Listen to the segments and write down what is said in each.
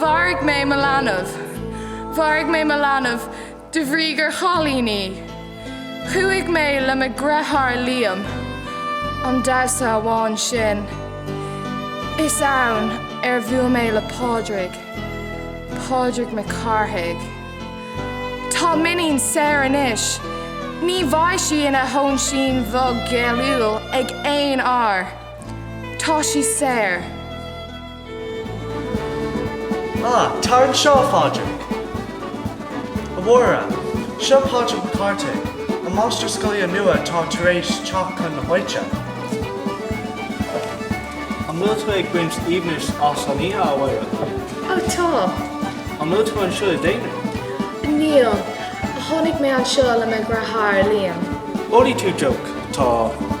Mharaigh mé mo leanbh. Mharaigh mé mo leanbh de bhrí gur chailín í. Chuaigh mé le mo dheartháir Liam. An damhsa amháin sin. Is ann ar bhuail mé le Pádraig. Pádraig Mac Cárthaigh. Tá m'iníon saor anois. Ní bheidh sí ina hóinsín bhog ghéilliúil ag aon fhear. Tá sí saor. Ah, tar anseo, a Phádraig! A Mháire, seo Pádraig Mac Cárthaigh, an máistir scoile nua atá tar éis teacht chun na háite. An bhfuil tú ag baint aoibhnis as an oíche, a Mháire? Ó, tá. An bhfuil tú anseo i d'aonar? Níl. Tháinig mé anseo le mo dheartháir, Liam. Ólfaidh tú deoch? Tá.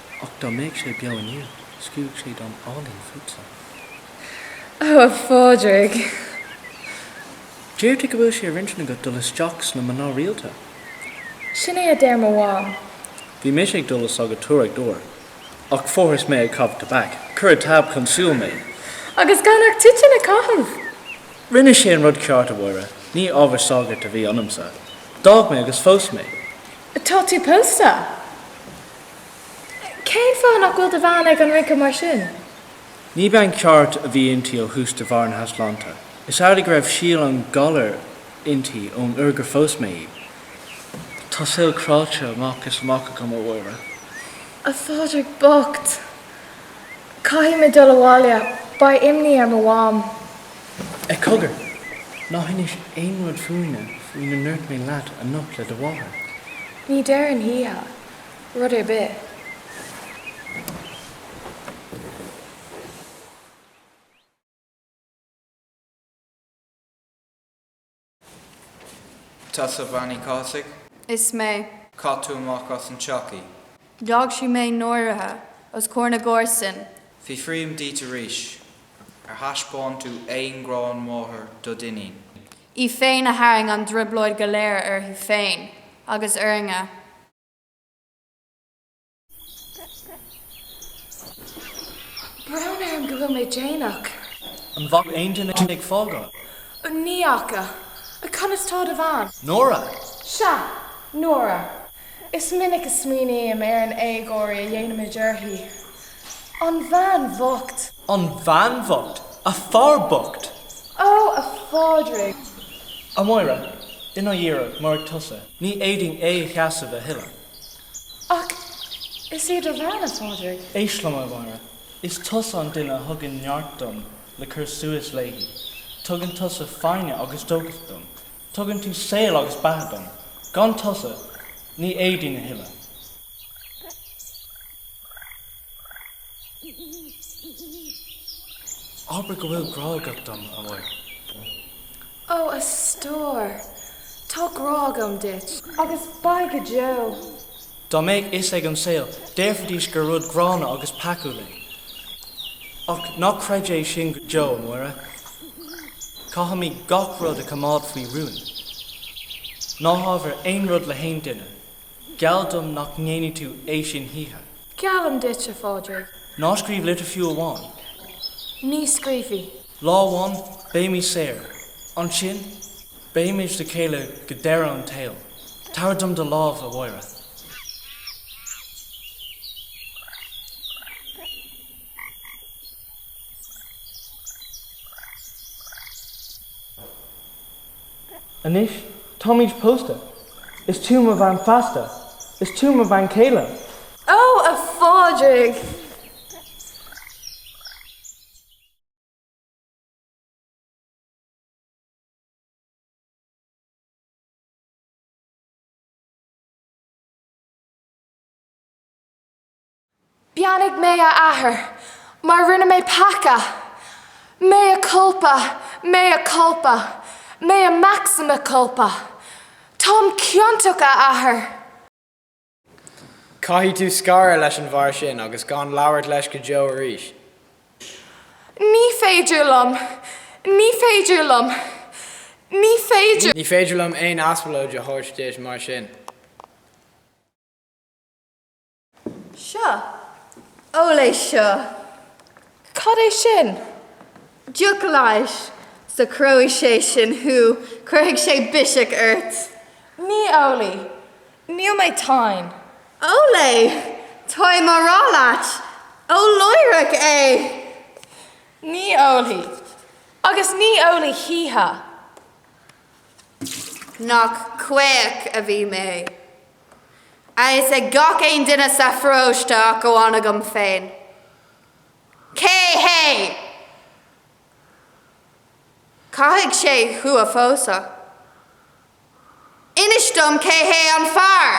Ach dá mbeadh sé beo inniu, scríobhfadh sé dán álainn fútsa. Ó, a Phádraig! Deirtear go bhfuil sé ar intinn agat dul isteach sna mná rialta? Sin é a deir mo mham. Bhí mise ag dul le sagartóireacht uair, ach fuarthas mé ag caitheamh tobac. Chuir an tAb chun siúil mé. Agus gan ach toitín a chaitheamh! Rinne sé an rud ceart, a Mháire, ní ábhar sagairt a bhí ionamsa. D'fhág mé agus phós mé. Tá tú pósta? Cén fáth nach bhfuil do bhean ag an rince mar sin? Ní bean cheart a bhí inti ó thús de bharr na heasláinte. Is amhlaidh go raibh síol an ghalair inti ón uair gur phós mé í. Tá saol cráite amach is amach agam, a Mháire. A Phádraig bocht! Caithfidh mé dul abhaile. Beidh imní ar mo mham. Ach cogar! Ná hinis aon rud fúinne faoina ndúirt mé leat anocht le do mháthair. Ní deirim choíche. rud ar bith. Tusa Bean Uí Chathasaigh. Is mé. Chaith tú amach as an teach í. D'fhág sí mé náirithe os comhair na gcomharsan. Fiafraím díot arís, ar thaispeáin tú aon ghrá máthar do d'iníon? í féin a tharraing an trioblóid go léir uirthi féin agus orainne. Brón orm go bhfuil mé déanach. An bhfaca aon duine thú ag fágáil? Ní fhaca. Conas tá do bhean? Nóra! Sea, Nóra. Is minic a smaoiním ar an éagóir a dhéanaimid uirthi. An bhean bhocht! An bhean bhocht, a fear bocht! Ó, a Phádraig! A Mháire, ina dhiaidh, murach tusa. Ní fhéadfainn é a sheasamh a thuilleadh. Ach is í do bhean, a Phádraig. Éist liom, a Mháire. Is tusa an duine a thugann neart dom le cur suas léi. Tugann tusa foighne agus dóchas dom. Tugann tú saol agus beatha dom. Gan tusa, ní fhéadfainn a thuilleadh. Abair go bhfuil grá agat dom, a Mháire. Ó, a stór, tá grá agam duit. Agus beidh go deo. Dá mbeadh fhios ag an saol, déarfaidís gur rud gránna agus peacúil é. Ach ná creid é sin go deo, a Mháire. Caithfimid gach rud a choimeád faoi rún. Ná habair aon rud le haon duine. Geall dom nach ndéanfaidh tú é sin choíche. Geallaim duit, a Phádraig. Ná scríobh litir fiú amháin. Ní scríobhfaidh. Lá amháin beimid saor. Ansin beimid le chéile go deireadh an tsaoil. Tabhair dom do lámh, a Mháire. Anois táimid pósta. Is tú mo bhean feasta. Is tú mo bhean chéile. Ó, a Phádraig! Beannaigh mé, a Athair, mar rinne mé peaca. Mea culpa, mea culpa, mea maxima culpa. Táim ciontach, a Athair. Caithfidh tú scaradh leis an bhfear sin agus gan labhairt leis go deo arís. Ní féidir liom, ní féidir liom, ní féidir. Ní féidir liom aon aspalóid a thabhairt duit mar sin. Seo. Ól é seo. Cad é sin? Deoch leighis. Socróidh sé sin thú, cuirfidh sé biseach ort. Ní ólfaidh. Níl mé tinn. Ól é! Táim á rá leat, ól láithreach é! Ní ólfaidh. Agus ní ólfaidh choíche. Nach caoch a bhí mé! a fhios ag gach aon duine sa pharóiste ach amháin agam féin cé hé! Caithfidh sé thú a phósadh. Inis dom cé hé an fear!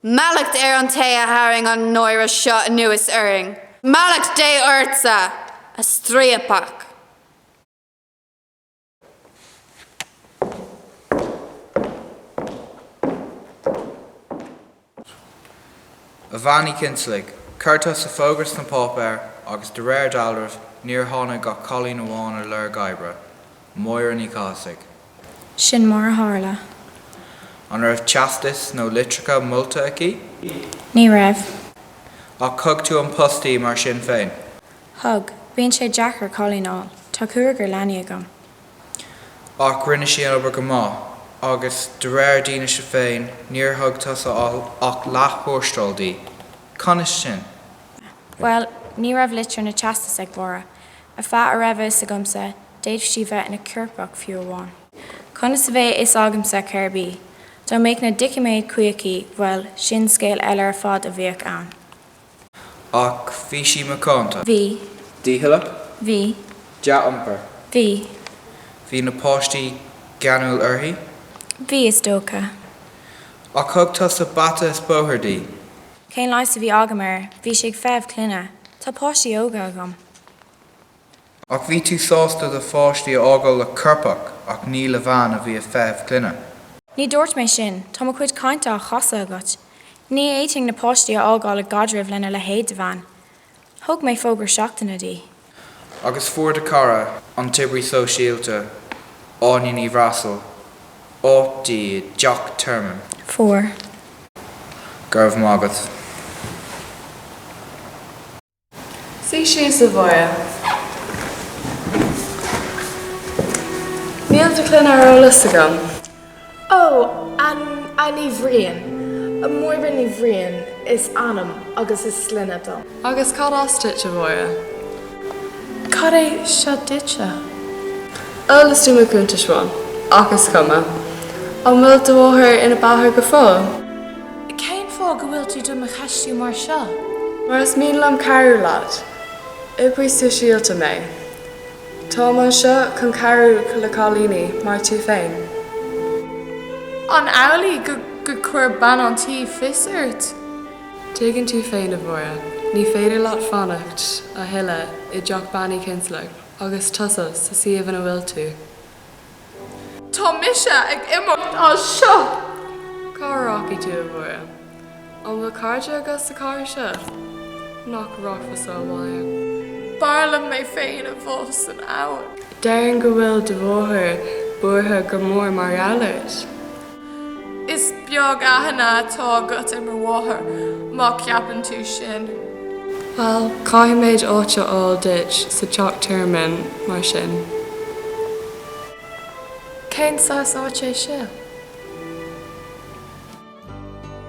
Mallacht ar an té a tharraing an náire seo anuas orainn. Mallacht Dé ortsa, a striapach! A bhean Uí Chinsealaigh, chuir tusa fógra sna páipéir, agus de réir dealraimh níor tháinig ach cailín amháin ar lorg oibre, Máire Ní Chathasaigh. Sin mar a tharla. An raibh teastas nó litreacha molta aici? Ní raibh. Ach thug tú an post di mar sin féin? Thug, Bíonn sé deacair cailín a fháil. Tá cúigear leanaí agam. Ach rinne sí an obair go maith, agus de réir d'fhianaise féin, níor thug tusa ach leath-thuarastal di. Conas sin? Bhuel, ní raibh litir ná teastas ag Mháire. Ar feadh a raibh a fhios agamsa, d'fhéadfadh sí bheith ina coirpeach, fiú amháin. Conas a bheadh a fhios agamsa cérb í? Dá mbeadh na doiciméid cuí aici, bhuel, sin scéal eile ar fad a bheadh ann. Ach bhí sí macánta. Bhí. Dícheallach. Bhí. Dea-iompair. Bhí. Bhí na páistí geanúil uirthi. Bhí, is dócha. Ach thug tusa bata is bóthar di. Cén leigheas a bhí agam air? Bhí sí ag feitheamh clainne. Tá páistí óga agam. Ach bhí tú sásta do pháistí a fhágáil le coirpeach ach ní le bhean a bhí ag feitheamh clainne. Ní dúirt mé sin, tá mo chuid cainte á chasadh agat. Ní fhéadfainn na páistí a fhágáil i gcaidreamh lena leithéid de bhean. Thug mé fógra seachtaine di. Agus fuair do chara, an t-oibrí sóisialta, Áine Ní Bhreasail, áit di i dteach tearmainn. Fuair. Go raibh maith agat. Suigh síos, a Mháire. Níl do shloinne ar eolas agam. Ó, Ní, Ní Bhriain. Máire Ní Bhriain is ainm agus is sloinne dom. Agus cad as duit, a Mháire? Cad é seo duitse? Eolas do mo chuntais-se. Ach is cuma. An bhfuil do mháthair ina beathaidh go fóill? Cén fáth go bhfuil tú do mo cheistiú mar seo? Mar is mian liom cabhrú leat. Oibrí sóisialta mé. Táim anseo chun cabhrú le cailíní mar tú féin. An amhlaidh gur chuir bean an tí fios ort? Tuigeann tú féin, a Mháire, ní féidir leat fanacht a thuilleadh i dteach Bean Uí Chinsealaigh agus tusa sa suíomh ina bhfuil tú. Tá mise ag imeacht as seo! Cá rachaidh tú, a Mháire? An bhfuil cairde agat sa chathair seo? Nach rachfása abhaile? B'fhearr liom mé féin a bhá san abhainn. Déarfainn go bhfuil do mháthair buartha go mór mar gheall ort. Is beag aithne atá agat ar mo mháthair, má cheapann tú sin. Bhuel, caithfimid áit a fháil duit sa teach tearmainn, mar sin. Cén saghas áit é seo?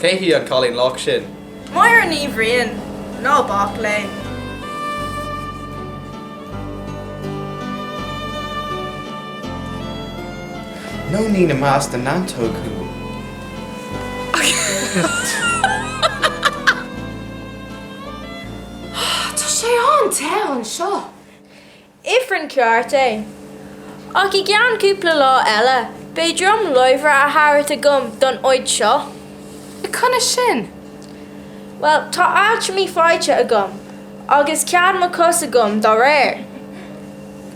Cé hí an cailín lách sin? Máire Ní Bhriain, ná bac léi. Nóinín i measc na neantóg thú! Tá sé an-te anseo! Ifreann ceart é. Ach i gceann cúpla lá eile beidh droim láimhe á thabhairt agam don áit seo. Conas sin? Bhuel, tá altramaí faighte agam, agus cead mo chos agam dá réir.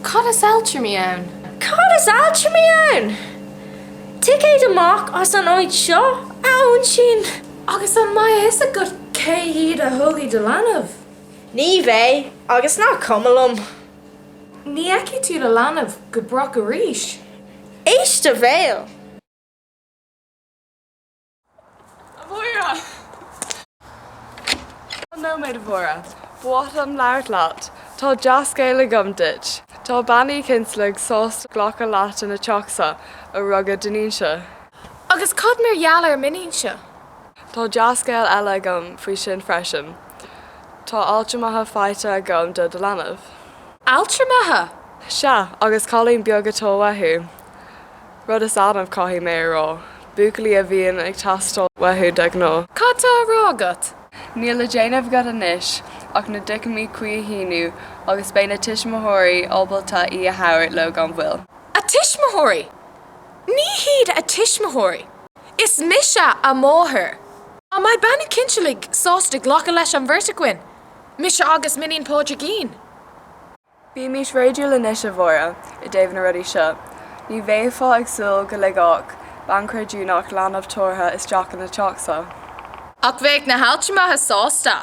Cad is altramaí ann? Cad is altramaí ann? Ticéad amach as an áit seo, a óinsín. Agus an mbeidh a fhios agat cé hiad a thógfaidh do leanbh? Ní bheidh, agus nach cuma liom. Ní fheicfidh tú do leanbh go brách arís. Éist do bhéal! A Mháire! Nóiméad, a Mháire. Ba mhaith liom labhairt leat. Tá dea-scéal agam duit. Tá Bean Uí Chinsealaigh sásta glacadh leat ina teachsa ó rugadh d'iníonsa. Agus cad mar gheall ar m'iníonsa? Tá dea-scéal eile agam faoi sin freisin. Tá altramaithe faighte agam do do leanbh. Altramaithe! Sea, agus cailín beag atá uathu. Rud is annamh, caithfidh mé a rá. Buachaillí a bhíonn ag teastáil uathu de ghnáth. Cad tá á rá agat? Níl le déanamh agat anois ach na doiciméid cuí a shíniú agus beidh na tuismitheoirí ábalta í a thabhairt leo gan mhoill. A tuismitheoirí! Ní hiad a tuismitheoirí! Is mise a máthair. An mbeidh Bean Uí Chinsealaigh sásta glacadh leis an bheirt againn, mise agus m'iníon Pádraigín. Bímis réadúil anois, a Mháire, i dtaobh na rudaí seo. Ní bheifeá ag súil go ligfeadh bean chreidiúnach leanbh tabhartha isteach ina teachsa. Ach bheadh na haltramaithe sásta.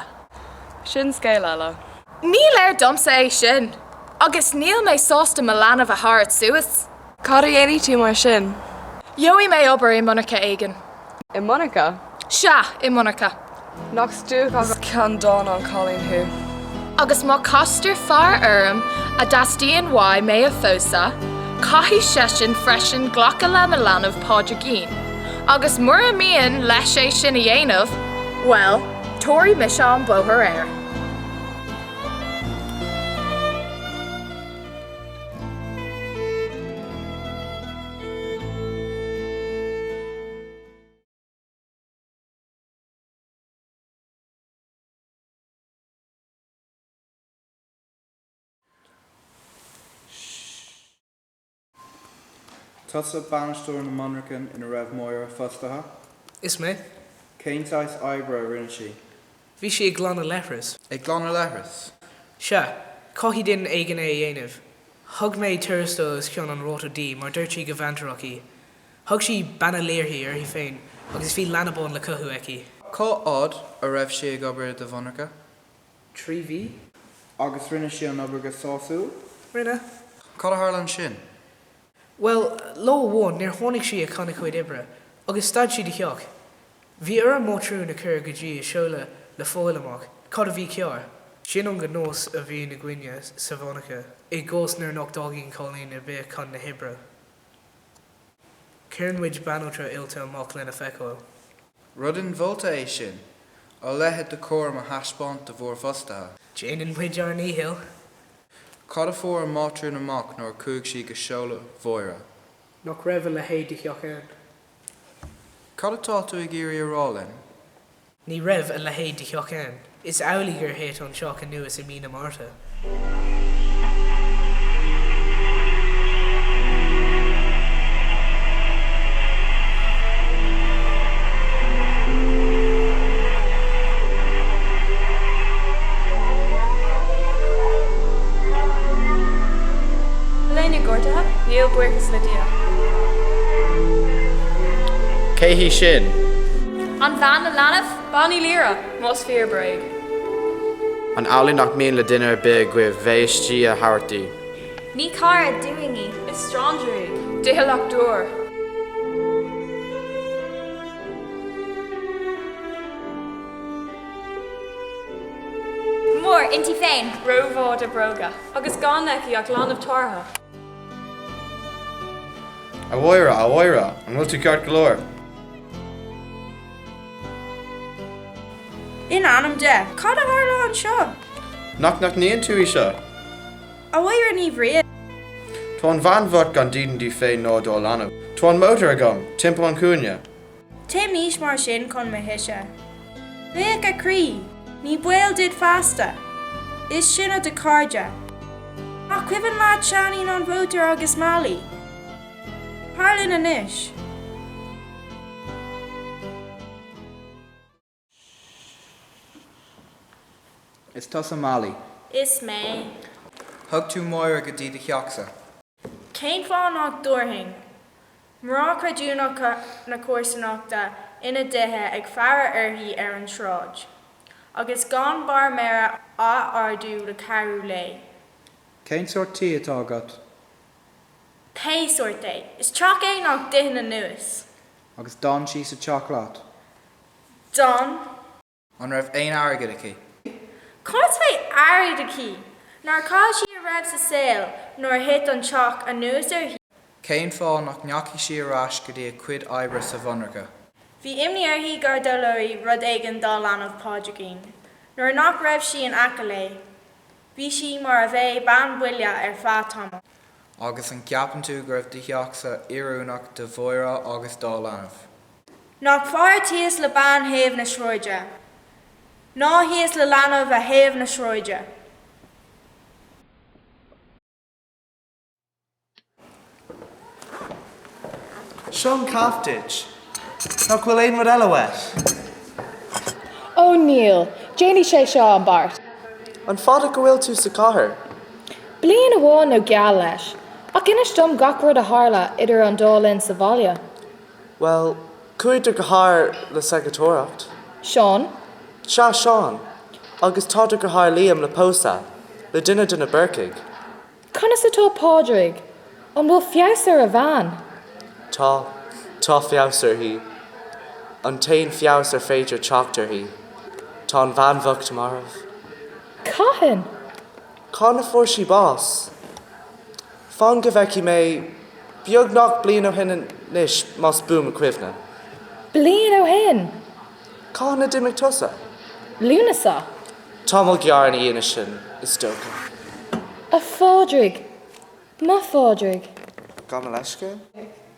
Sin scéal eile. Ní léir domsa é sin. Agus níl mé sásta mo leanbh a thabhairt suas. Cad a dhéanfaidh tú mar sin? Gheobhaidh mé obair i monarcha éigin. I monarcha? Sea, i monarcha. Nach stuacach agus ceanndána an cailín thú! Agus má castar fear orm a dteastaíonn uaidh mé a phósadh, caithfidh seisean freisin glacadh le mo leanbh Pádraigín, agus mura mian leis é sin a dhéanamh, bhuel, tabharfaidh mise an bóthar air. Tusa bainisteoir na monarchan ina raibh Máire fostaithe? Is mé. Cén saghas oibre a rinne sí? Bhí sí ag glanadh leithreas. Ag glanadh leithreas. Sea. Chaithfeadh duine éigin é a dhéanamh. Thug mé tuarastal os cionn an ráta di mar dúirt sí gur bhaintreach í. Thug sí Bean Uí Laoire uirthi féin agus bhí leanbán le cothú aici. Cá fhad a raibh sí ag obair i do mhonarcha? Trí mhí. Agus rinne sí an obair go sásúil? Rinne. Cad a tharla ansin? Well, lá amháin, níor tháinig sí chun a cuid oibre, agus stad sí de theacht. Bhí orm mátrún a chur go dtí a seoladh le fáil amach cad a bhí cearr. Sin an gnás a bhíonn againne sa mhonarcha i gcás nuair nach dtagann cailín ar bith chun na hoibre. Cuireann muid banaltra oilte amach lena feiceáil. Rud inmholta é sin, a leithéid de chúram a thaispeáint do bhúr bhfostaithe. Déanann muid ár ndícheall. Cad a fuair an mátrún amach nuair a chuaigh sí go seoladh Mháire? nach raibh a leithéid de theach ann. Cad atá tú ag iarraidh a rá linn? ní raibh a leithéid de theach ann. Is amhlaidh gur thit an teach anuas i mí na Márta. Bhfuil éinne gortaithe, níl buíochas le Dia. Cé hí sin? An bhean le leanbh? Bean Uí Laoire, más fíor, bréag. An amhlaidh nach mian le duine ar bith agaibh bheith istigh a thabhairt di? Ní cara dúinn í. Is stranger í. Doicheallach dúr. mór inti féin. rómhaith dá bróga agus gan aici ach leanbh tabhartha. A Mháire, a Mháire, an bhfuil tú ceart go leor? In ainm Dé, cad a tharla anseo? Nach n-aithníonn tú í seo? A Mháire Ní Bhriain. Tá an bhean bhocht gan dídean di féin ná dá leanbh. Tá an mótar agam, timpeall an chúinne. Téimis mar sin chun mo thíse. Féach, a chroí, Ní baol duit feasta! Is sinne do chairde. Nach cuimhin leat Seáinín an Mhótair agus Mailí? Tar linn anois. Is tusa Mailí. Is mé. Thug tú Máire go dtí do theachsa. Cén fáth nach dtabharfainn? Mná creidiúnacha na comharsanachta ina dtithe ag faire uirthi ar an tsráid. Agus gan barr méire á ardú le cabhrú léi. Cén sórt tí atá agat? Pé sórt é. Is teach é nach dtiteann anuas. Agus d'fhan sí sa teach leat? D'fhan. An raibh aon airgead aici? Cá as a bheadh airgead aici? Nár chaill sí a raibh sa saol nuair a thit an teach anuas uirthi? Cén fáth nach ndeachaigh sí ar ais go dtí a cuid oibre sa mhonarcha? Bhí imní uirthi go dtarlóidh rud éigin dá leanbh Pádraigín nuair nach raibh sí in aice léi. Bhí sí mar a bheadh bean buile ar feadh tamaill. Agus an gceapann tú go raibh do theachsa oiriúnach do Mháire agus dá leanbh? Nach fearr tíos le bean thaobh na sráide ná thíos le leanbh ar thaobh na sráide. Seo an caife duit. Nach bhfuil aon rud eile uait? Ó, níl. Déanfaidh sé seo an beart. An fada go bhfuil tú sa chathair? Bliain amháin nó geall leis. Ach inis dom gach rud a tharla idir an dá linn sa bhaile. Bhuel, chuaigh do dheartháir le sagartóireacht. Seán. Sea, Seán. Agus tá do dheartháir Liam le pósadh, le duine de na Búrcaigh. Conas atá Pádraig? An bhfuil feabhas ar a bhean? Tá. Tá feabhas uirthi. An t-aon feabhas ar féidir teacht uirthi. Tá an bhean bhocht marbh. Cathain? Cathain a fuair sí bás? Fan go bhfeicfidh mé. Beagnach bliain ó shin anois, más buan mo chuimhne. Bliain ó shin! Cathain a d'imigh tusa? Lúnasa. Tamall gearr ina dhiaidh sin, is dócha. A Phádraig! Mo Phádraig! Gabh mo leithscéal.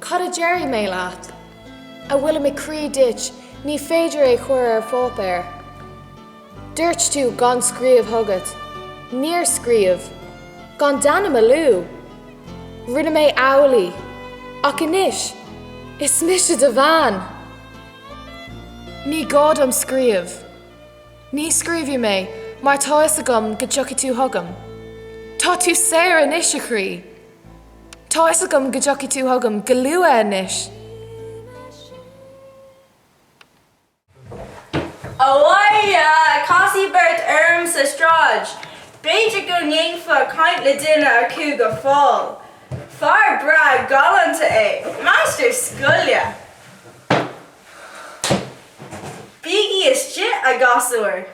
Cad a déarfaidh mé leat? a bhfuil i mo chroí duit ní féidir é a chur ar pháipéar. Dúirt tú gan scríobh chugat. Níor scríobh. Gan d'ainm a lua? Rinne mé amhlaidh. Ach anois, is mise do bhean! Ní gá dom scríobh. Ní scríobfaidh mé mar tá a fhios agam go dtiocfaidh tú chugam. Tá tú saor anois, a chroí! Tá a fhios agam go dtiocfaidh tú chugam go luath anois. A Mháire, casadh beirt orm sa tsráid. B'fhéidir go ndéanfá caint le duine acu go fóill. Fear breá galánta é, máistir scoile. Bígí istigh, a ghasúir.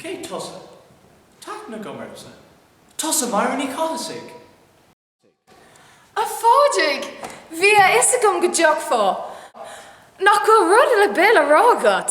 Cé tusa? Tá aithne agam ortsa. Tusa Máire Ní Chathasaigh! A Phádraig! Bhí a fhios agam go dtiocfá. Nach bhfuil rud ar bith le rá agat?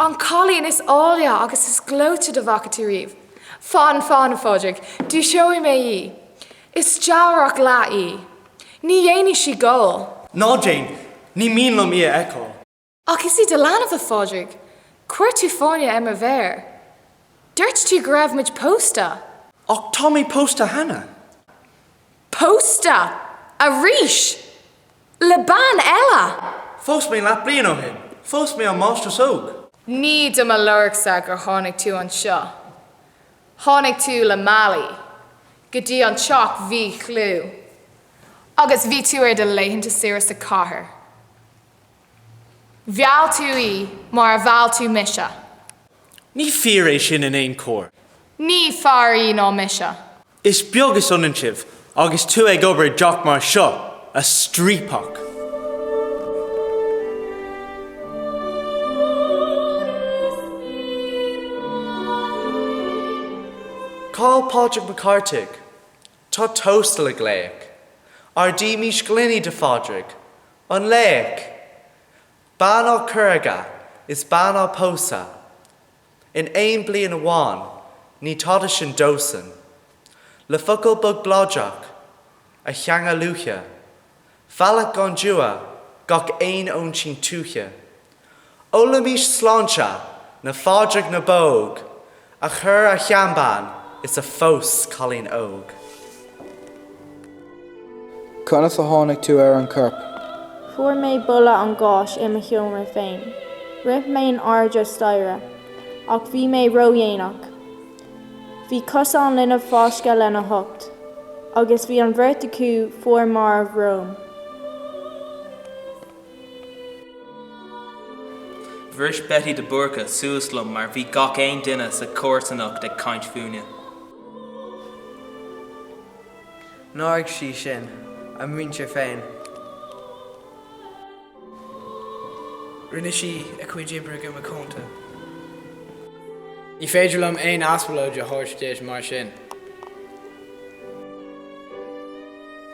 An cailín is áille agus is gleoite dá bhfaca tú riamh. Fan, fan, a Phádraig, dúiseoidh mé í. Is dealrach leat í. Ní dhéanfaidh sí gol. Ná déan. Ní mian liom í a fheiceáil. Ach is í do leanbh, a Phádraig. Chuir tú fáinne ar mo mhéir. Dúirt tú go raibh muid pósta. Ach tá mé pósta cheana. Pósta! Arís! le bean eile. Phós mé leath bliain ó shin. Phós mé an mháistreás óg. Ní do mo lorgsa gur tháinig tú anseo. Tháinig tú le Mailí go dtí an teach mhíchlú agus bhí tú ar do laethanta saoire sa chathair. Mheall tú í mar a mheall tú mise. Ní fíor é sin in aon chor. Ní fearr í ná mise. Is beag is ionann sibh agus tú ag obair i dteach mar seo, a striapach! Cá'il Pádraig Mac Cárthaigh? Tá tósta le glaoch. Ardaímis gloiní do Phádraig. An laoch! Bean á cur aige is bean á pósadh. in aon bliain amháin, ní tada sin dósan. Le focal bog bladrach, a theanga luaithe, mhealladh gan dua gach aon óinsín tuaithe. Ólaimis sláinte na Phádraig na bPóg a chuir a sheanbean is a phós cailín óg. Conas a tháinig tú ar an gcorp? Fuair mé boladh an gháis i mo sheomra féin. Rith mé in airde staighre. Ach bhí mé ródhéanach. Bhí cosa an linbh fáiscthe lena hucht. Agus bhí an bheirt acu fuar marbh romham. Bhris Betty de Búrca suas liom mar bhí gach aon duine sa chomharsanacht ag caint fúinne. Náirigh sí sinn a muintir féin. Rinne sí a cuid oibre go macánta. Ní féidir liom aon aspalóid a thabhairt dise mar sin.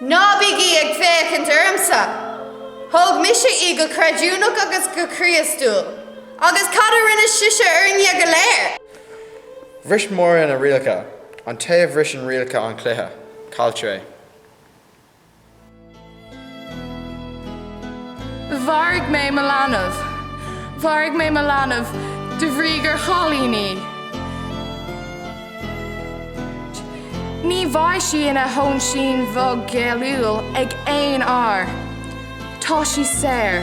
Ná bígí ag féachaint ormsa. Thóg mise í go creidiúnach agus go Críostúil. Agus cad a rinne sise orainne go léir? Bhris Máire na rialacha, an té a bhriseann rialacha an chluiche, cailltear é. Mharaigh mé mo leanbh. Mharaigh mé mo leanbh de bhrí gur chailín í. Ní bheidh sí ina hóinsín bhog ghéilliúil ag aon fhear. Tá sí saor.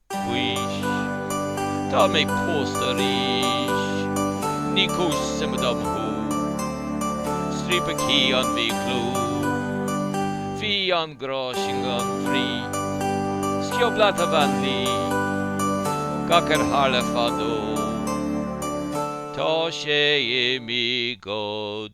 Mhaois. Tá mé pósta arís. Ní cúis suime dom thú. Striapach thí an mhíchlú. Bhí an grá sin gan bhrí. Sciob leat a bhean luí. Gach ar tharla fadó. Tá sé imithe go.